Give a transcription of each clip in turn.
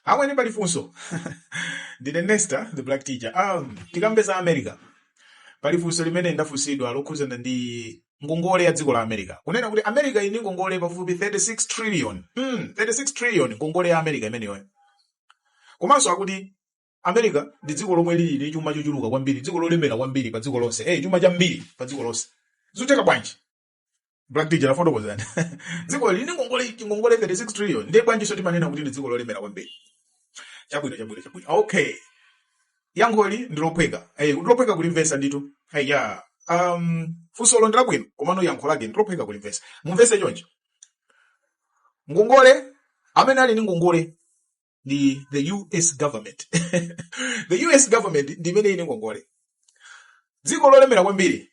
Amwene pali funso. Ndine Nesta, the black teacher. Um, tikambe za America. Pali funso limene ndafunsidwa lokhuzana ndi ngongole ya dziko la America. Kunena kuti America ili ndi ngongole pafupi 36 trillion. Mm, 36 trillion ngongole ya America imeneyo. Komanso akuti America ndi dziko lomwe lili ndi chuma chochuluka kwambiri, dziko lolemera kwambiri pa dziko lonse. Eh, chuma chambiri pa dziko lonse. Zikutheka bwanji? black teacher tafotokozani dziko lili ndi ngongole ngongole 36 trillion ndiye bwanjinso timanena kuti ndi dziko lolemera kwambiri chabwino chabwino chabwino okay yankholi ndi lophweka eh, lophweka kulimvetsa ndithu eh, ya um, funsolo ndi labwino komano yankho lake ndi lophweka kulimvetsa mumvetse choncho ngongole amene ali ndi ngongole ndi the us government the us government ndi imene ili ndi ngongole dziko lolemera kwambiri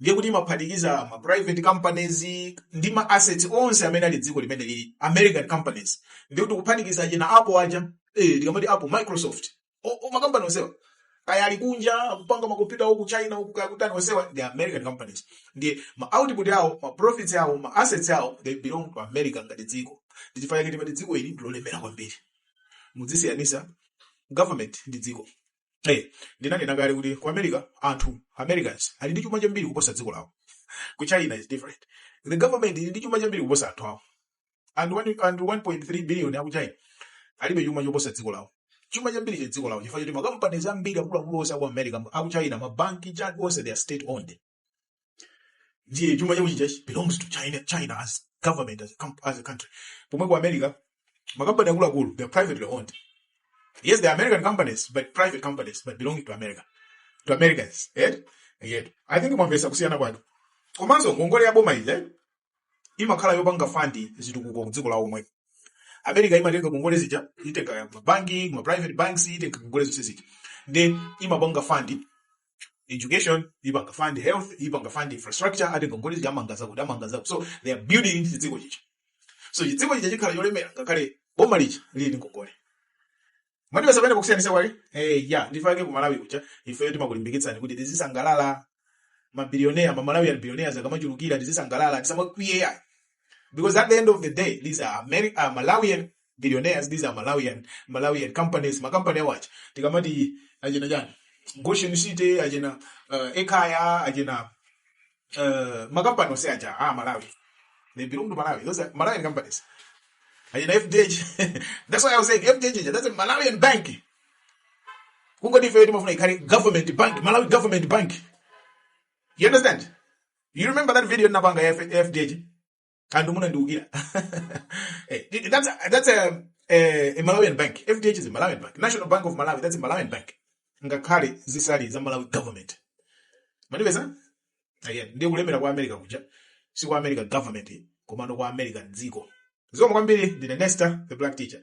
ndiye kuti imaphatikiza ma private companies ndi ma assets onse amene ali m'dziko limene lili american companies ndiye kuti kuphatikiza achina apple aja eh, tikamati apple microsoft o- o- makampani onsewa kaya ali kunja akupanga makompyuta uku china uku kaya kutani onsewa ndi american companies ndiye ma output awo ma profits awo ma assets awo they belong to america ngati dziko ndi chifukwa chake timati dziko ili ndilolemera kwambiri muzisiyanitsa government ndi dziko Eh, ndinanena kale kuti ku america anthu americans ali ndi chuma chambiri kuposa dziko lawo ku china is different the government ili ndi chuma chambiri kuposa anthu awo anthu one- anthu 1.3 billion aku china alibe chuma choposa dziko lawo chuma chambiri cha dziko lawo chifukwa choti makampanies ambiri akuluakulu onse aku america aku china mabanki chani onse they are state owned ndiye chuma chawo chija belongs to china china as government as a, com- as a country pomwe ku america makampani akuluakulu they are privately owned yes they are american companies but private companies but belonging to america to americans eh? Yet, i think mwamvetsa kusiyana kwake komanso ngongole ya boma ija eh? imakhala yopanga fund zitukuko ku dziko lawo lomwe america imatenga ngongole zija itenga mabanki ma private banks itenga ngongole zonse zija ndi imapanga fund education ipanga fund health ipanga fund infrastructure ati ngongole zija amanga zakuti amanga zakuti so they are building into chidziko chija so chidziko chija chikhala cholemera ngakhale boma lija lili ndi ngongole mwandipeza pamene pakusiyanitsa kwake eh ya nchifake ku malawi kuja ifeyo timakulimbikitsani kuti tizisangalala mabilionea ma malawian billionaires akamachulukira tizisangalala tisamakwiye ya because at the end of the day these are Ameri- uh, malawian billionaires these are malawian malawian companies makampani awa ti tikamati achina chani goshen city achina uh, ekaya achina uh, makampani onse aja a malawi they belong to malawi those are malawian companies and in fdh that's why i was saying fdh ija that's a malawian bank kungoti ifeyo timafuna ikhale government bank malawi government bank you understand you remember that video napanga ya F- fdh FDH munandiukira Eh, that's a, that's a, eh, a malawian bank fdh is a malawian bank national bank of malawi that's a malawian bank ngakhale zisali za malawi government mwandipeza eh ndiye kulemera kwa america kuja si kwa america government komano kwa america dziko zikomo kwambiri ndine nesta the black teacher